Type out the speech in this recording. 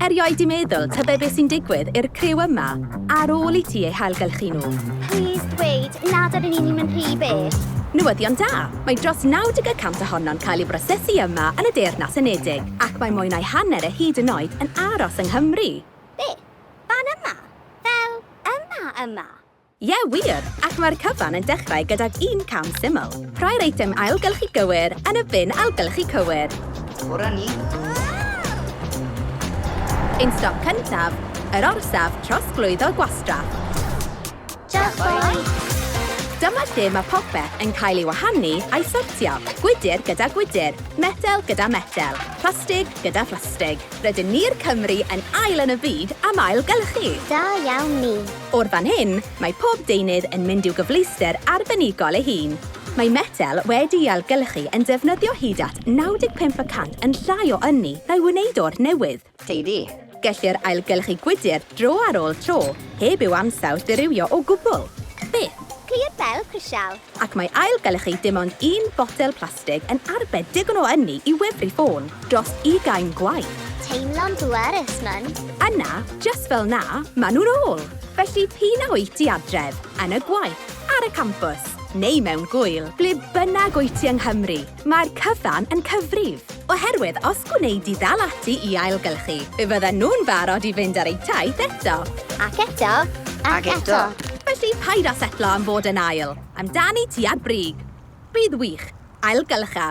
Erioed di meddwl tybed beth sy'n digwydd i'r criw yma ar ôl i ti eu hailgylchu nhw. Please dweud nad ydyn ni'n mynd rhy bell. Newyddion da! Mae dros 90 y cant ohono'n cael ei brosesu yma yn y Deyrnas Unedig, ac mae mwy na'i hanner e hyd yn oed yn aros yng Nghymru! Be? Fan yma? Fel yma yma? Ie, wir! Ac mae'r cyfan yn dechrau gydag un cam syml. Rhoi'r eitem ailgylchu gywir yn y bin ailgylchu cywir. Tora ni! Ein stop cyntaf, yr orsaf trosglwyddo gwastraff. Diolch, boi! Dyma lle mae popeth yn cael ei wahanu a'i sortio, gwydr gyda gwydr, metel gyda metel, plastig gyda phlastig. Rydyn ni'r Cymry yn ail yn y byd am ailgylchu! Da iawn ni! O'r fan hyn, mae pob deunydd yn mynd i'w gyfleuster arbenigol ei hun. Mae metel wedi'i ailgylchu yn defnyddio hyd at 95 y cant yn llai o ynni na'i wneud o'r newydd. Teidi. Gellir ailgylchu gwydr dro ar ôl tro, heb i'w ansawdd ddirywio o gwbl. Byth. Clir fel crisial. Ac mae ail gylchu dim ond un botel plastig yn arbed digon o ynni i wefru ffôn dros ugain gwaith. Teimlo'n bwerus, Mum. Yna, jyst fel 'na, maen nhw'n ôl! Felly p'un a wyt ti adref, yn y gwaith, ar y campws, neu mewn gŵyl, ble bynnag wyt ti yng Nghymru, Mae'r cyfan yn cyfrif, oherwydd os gwneud di ddal ati i ailgylchu, fe fydden nhw'n barod i fynd ar eu taith eto. Ac eto, ac, ac eto. Felly paid â setlo am fod yn ail, amdani ti a brig. Bydd wych, ailgylcha.